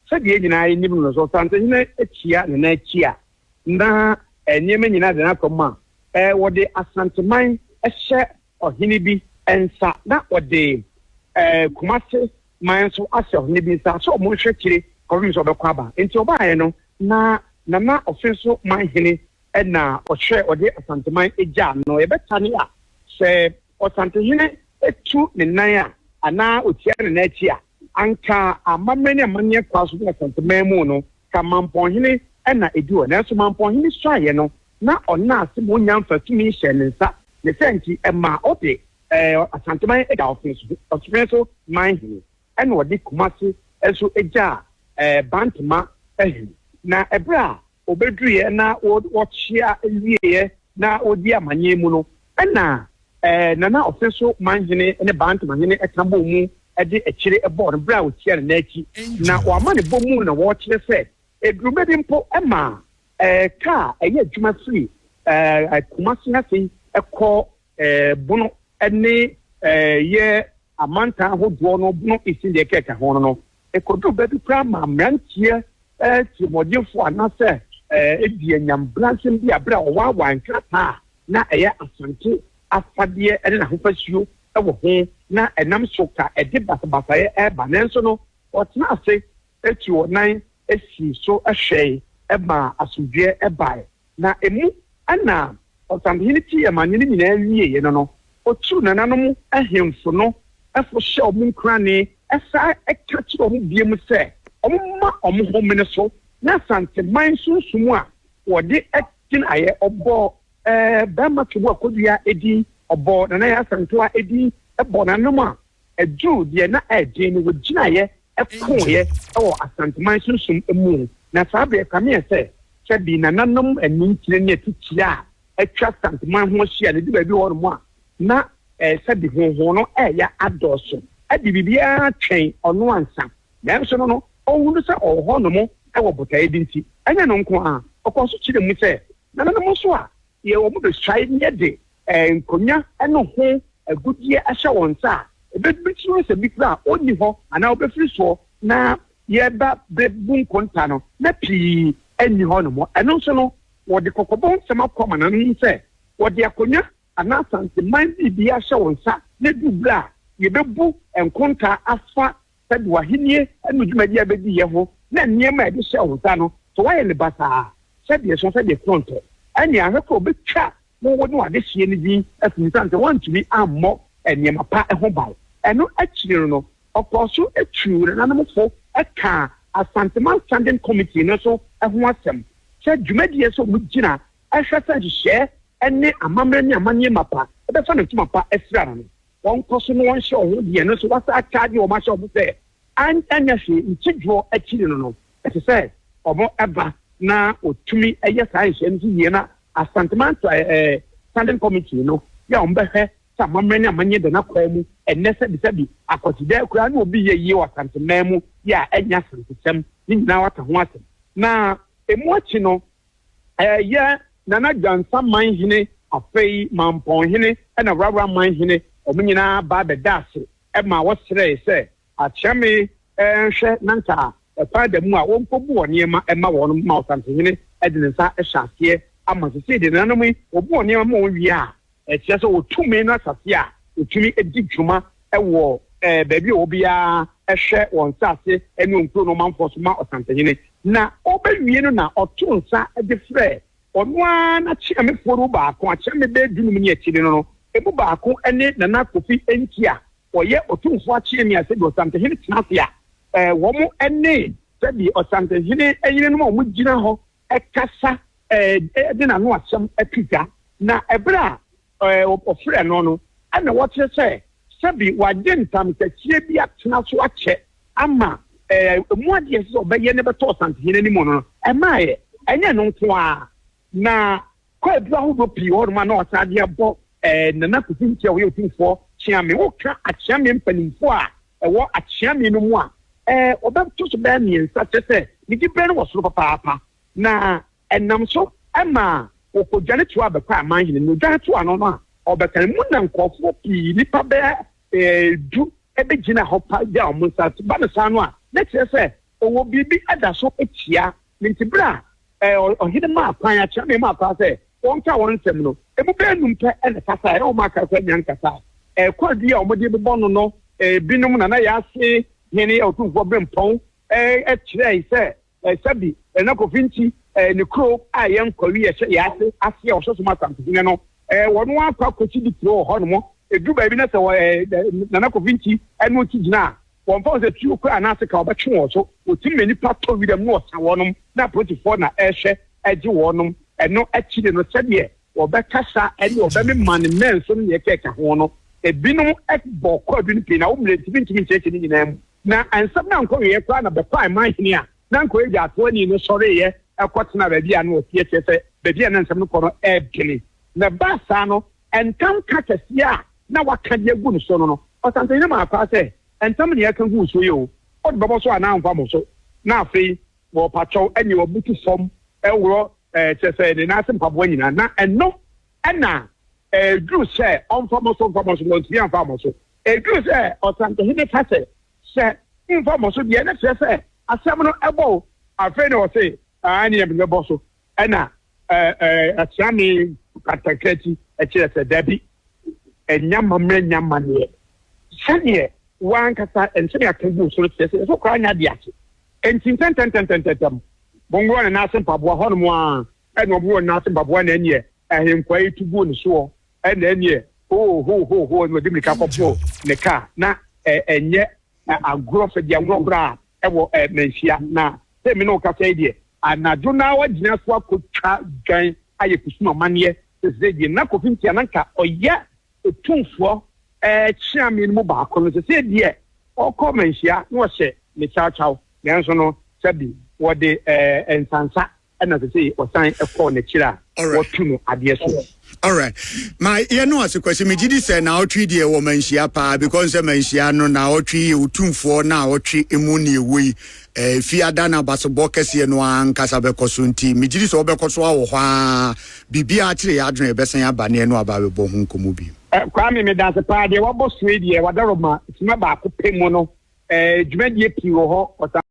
Sɛdeɛ yɛn nyinaa nim no, sɛ ɔsantehene kyea ne nan kyea na nneɛma nyinaa da n'akwan mu a, wɔde Asanteman hyɛ ɔhene bi nsa na wɔde Kumase man nso ahyɛ ɔhene bi nsa sɛ wɔnhwɛ akyire kɔpem sɛ ɔbɛkɔ aba. Nti ɔbaeɛ no, na Nana Ɔfenso man hene na ɔhwɛ ɔde Asanteman gyaa no. Yɛbɛtane a, sɛ ɔsantehene tu ne nan a anaa ɔkyea ne nan akyi a, Anka amammerɛ ne amanneɛ kɔa so ne asɛnteman mu no, ka mampɔnhene na ɛdi hɔ. Nanso mampɔnhene suaeɛ no, na ɔnna ase ma ɔnnya mfatomi nhyɛɛ ne nsa. Ne saa nti, ɛmaa ɔde Asanteman gyaa Ɔsofɛn so man hene, ɛna ɔde Kumase nso gyaa Bantama hene. Na ɛberɛ a wɔbɛduruiɛ na wɔkyea wieeɛ na wɔdi amanneɛ mu no, ɛna Nana Ɔsɛnso Manhene ne Bant Mahene ka bɔɔ mu de akyire bɔɔ no berɛ a wɔtia no nan akyi. Na wɔama ne bɔ mu na wɔkyerɛ sɛ ɛduruma bi mpo ma kaa ɛyɛ adwuma firi Kumase ha sei kɔ Bono ne yɛ amantan ahodoɔ no bono esin deɛ ɛka ɛka ho no no, ɛkɔduru baabi koraa ma mmeranteɛ tirimɔdenfoɔ anaasɛ ebi anyam bransem bi a berɛ a wɔwaawaa nkrataa a na ɛyɛ Asante afadeɛ ne n'ahofasuo wɔ ho na ɛnam so ka ɛde basabasayɛ reba nanso no wɔtena ase Eti wɔnan sii so hwɛe maa asomdwoeɛ bae. Na emu na ɔsahene tii amanneɛ no nyinaa wieeɛ no no, ɔtuu nananom ahemfo no fo hyɛɛ wɔn nkuranee san ka kyerɛɛ wɔn bio sɛ wɔmma wɔn ho mmene so, na Asanteman sunsum a wɔde gyinaeɛ, wɔbɔɔ Barima Tweboa Kodua din, wɔbɔɔ Nanaye Asantewa din, bɔɔ nananom a ɛduruu deɛ na ɛyɛ den no, wɔgyinaeɛ kooeɛ wɔ Asanteman sunsum mu, na saa berɛ ɛkameeɛ sɛ sɛbi nananom anintire ne atitia a atwa Asanteman ho ahyia no du baabi hɔnom a, na sɛbi honhon no reyɛ adɔɔso de biribiara twɛn ɔno ansa, nanso no no ɔhunu sɛ ɔwɔ hɔnom wɔ botaeɛ bi nti. Ɛnyɛ ɛno nko ara, ɔkɔɔ so kyerɛɛ mu sɛ nananom nso a wɔn bɛsuae yɛ de nkonnwa ne ho agudeɛ ahyɛ wɔn nsa a, ɛbɛtumi sɛ bi koraa ɔnni hɔ anaa ɔbɛfiri soɔ na yɛreba bɛbu nkonta no, na pii nni hɔnom. Ɛno nso no, wɔde kɔkɔbɔ nsɛm akɔ amanaman mu sɛ wɔde akonnwa anaa Asanteman biribi ahyɛ wɔn nsa na ɛduru berɛ a yɛbɛbu nkonta afa sɛ de w'ahenni ne dwumadi a ɛbɛdi yɛ ho na nneɛma a ɛde hyɛ wo nsa no, sɛ woayɛ no basaa, sɛdeɛ ɛsua, sɛdeɛ ɛkorɔn tɔ, ɛnneɛ ahwɛ korɔ bɛtwa wo wo ne w'adehyeɛ no din afi mu, ɛsiane sɛ woantumi ammɔ nneɛma pa ho ban. Ɛno akyiri no, ɔkɔɔ so tuu nananom fo kaa Asanteman Standing Committee no nso ho asɛm sɛ dwumadi a ɛsɛ sɛ wɔgyina hwɛ sɛ nhyehyɛɛ ne amammerɛ ne amanneɛ mapa bɛfa no ntoma pa asira no. wɔnkɔ so na wɔnhyɛ wɔn ho deɛ no nso wɔasan akyaagye wɔn ahyɛ wɔn sɛ anyɛ hwee nti dwoɔ akyiri no no ɛsɛ sɛ wɔn ba na wɔtumi yɛ saa nhyehyɛe no so yie na Asante Mantra eh, Standing Committee no yɛ wɔn bɛhwɛ sɛ amammerɛ ne amanyɛ da no akɔa mu ɛnnɛ sɛbisɛbi akwatidɛ koraa ne obi yɛ yie wɔ Asante man mu yɛ a ɛnyɛ asantesɛm ne nyinaa waka ho asɛm na ɛmu akyi no Ɛyɛ Nana Gyansa man hene, afei Mampɔn hene na Wrawra man hene, wɔn nyinaa ba bɛdaa ase ma wɔsrɛe sɛ Akyerɛme nhwɛ na nka kwan da mu a wɔnkɔboɔ nneɛma mma wɔn ma Ɔsantenhene de ne nsa hyɛ aseɛ ama. Seesei deɛ nananom yi wɔboɔ nneɛma ma wɔn wie a, Ɛkyerɛ sɛ ɔwɔ tumi ne asase a ɔtumi di dwuma wɔ baabi a obiara hwɛ wɔ nsase ne wɔ nkuro ne ɔmanfoɔ so ma ɔsansahene. Na ɔbɛwie no na ɔto nsa de frɛ ɔno ara n'akyeamefoɔ no mu baako, akyeame bɛyɛ dunum ne akyire no no, ɛmu baako ne Nana Kofi Nti a ɔyɛ ɔtumfoɔ akyeame a sɛdeɛ ɔsansahene tena ase a wɔn ne sɛdeɛ ɔsansahene yerenom a wɔgyina hɔ kasa de n'ano asɛm to dwa, na bere a wɔfrɛɛ no no, ɛnna wɔkyerɛ sɛ sɛbe wagye ntamhyɛseɛ bi atena so akyɛ ama ɛmu adeɛ a ɛsɛ sɛ ɔbɛyɛ no bɛtɔ ɔsansehene no mu no, ɛmmaeɛ. Ɛnyɛ ɛno nko ara, na Kɔ aduru ahodoɔ pii wɔ hɔnom a na ɔsan de abɔ ɛɛ Nana Kofi Nti a ɔyɛ otumfoɔ Kyeame. Woka Akyeame mpanimfoɔ a ɛwɔ Akyeame no mu a, ɛɛ wɔbɛto so bɛyɛ mmiɛnsa, kyerɛ sɛ ne diberɛ no wɔ soro papaapa. Na ɛnam so ma wɔkɔdwane toaa bɛkɔɔ amanhene no dwane toaa no no a, ɔbɛkan mu na nkurɔfoɔ pii, nnipa bɛyɛ ɛɛ du bɛgyinaa hɔ pa gyaa wɔn nsa ase ba no saa no a, na ɛkyerɛ sɛ Ɔwɔ biribi da so tia me nti berɛ a ɔhene maa kwan, akyerɛbee maa kwan sɛ wɔnka wɔn nsɛm no, ɛmu bɛyɛ nnum pɛ na ɛkasaeɛ, na wɔn a aka koraa nnya nkasaeɛ. Ɛkwan bi a wɔde bobɔ no no, binom Nana Yaase, Hene Otumfoɔ Berempɔn, kyerɛɛe sɛ sɛbi Nana Kofi nti ne kuro a ɛyɛ Nkwawi a ɛhyɛ Yaase ase a wɔhyɛ so ma Asante Hene no, wɔn ara kɔ akɔsi di kuro wɔ hɔnom. Ɛduru baabi na sɛ Nana Kofi nti ɛno nti gyina a, Wɔmfa wɔn sɛ tuo koraa anaa seka a wɔbɛtwe wɔn so. Wɔtim ma nnipa tɔ wiram na wɔsa wɔnom, na apolisifoɔ na ɛrehwɛ agye wɔnom. Ɛno akyiri no, sɛdeɛ wɔbɛkasa ne wɔbɛmema ne mmɛn so ne deɛ ɛka ɛka ho no, ebinom bɔ kwaadu no pii na wo mmerɛ nti mentumi nkyerɛkyerɛ ne nyinaa mu. Na nsɛm no ankɔweeɛ koraa na bɛkɔɔ man hene a na anka ɔyɛ gyaatoani no sɔreeɛ kɔtenaa baabi a na ɔteɛ, kyerɛ sɛ, baabi a na nsɛm no kɔ no ɛredwene. Na ɛbaa saa no, Ntam ka kɛseɛ a na waka de agu no so no no, ɔsantehene maa kwaa sɛ, Ntam nea ɛka gu wo soɔ yi o, wode bɛbɔ so anaa womfa mmɔ so? Na afei wɔpakyɛw ɛnneɛ wabutu fam reworɔ eh, kyerɛ sɛ ne nan ase mpaboa nyinaa. Na ɛno na ɛduru sɛ ɔmfa mmɔ so, ɔmfa mmɔ so, wantumi amfa ammɔ so. Ɛduru sɛ ɔsantehene ka sɛ, Sɛ womfa mmɔ so deɛ, ɛno kyerɛ sɛ asɛm no ɛbɔ o. Afei na ɔse, Aane, ɛnneɛ mede bɛbɔ so. Ɛna asiane katakati kyerɛ sɛ dabi, ɛnyɛ amammerɛ nyɛ amanneɛ. Sɛdeɛ wo ara ankasa nsɛm yɛaka gu so no kyerɛ sɛ yɛn nso koraa nyɛ adeɛ ase. Enti ntɛntɛntɛntɛntɛm, monworɔ ne nan ase mpaboa hɔnom ara. Ɛna wɔworɔɔ ne nan ase mpaboa, na ɛnneɛ ahenkwaa yi tu guu ne soɔ. Ɛna ɛnneɛ, hoo-hoo-hoo-hoo, ɛna wɔde mmirika kɔporoo ne kaa, na ɛnyɛ agorɔ fɛ deɛ agorɔ koraa ɛwɔ ɛɛ manhyia na sɛ mi na ɔkasa yi deɛ anadwo na wagyina so akɔtwa dwan ayɛ kusum amaneɛ sese deɛ na kofi ntia na nka ɔyɛ otumfoɔ ɛɛ kyea mi no mu baako no sese deɛ ɔkɔ manhyia na ɔhyɛ ne kyawkyaw nanso no sɛbi wɔde ɛɛ nsansa ɛna sɛ sɛ ɔsan kɔ n'akyiri a wɔtu no adeɛ so. alright ma yɛ no ase kwasi megye di sɛ naawɔtwe deɛ wɔ manhyia paa because sɛ manhyia no naawɔtwe yɛ otumfoɔ na awɔtwe mu ne ɛwɔ yi ɛfi eh, ada no abasebɔ kɛseɛ no ara nkasa bɛkɔ so nti megye di sɛ wɔbɛkɔ so awɔ hɔ a biribiaa kyerɛ yɛ adwene ɛbɛsan aba ne ɛno aba bɛbɔ ho nkɔmmɔ bio eh, kwaa me meda ase paa deɛ wabɔ soe deɛ wadarɔ ma sima baako pɛ mu no eh, dwumadie pii wɔ hɔ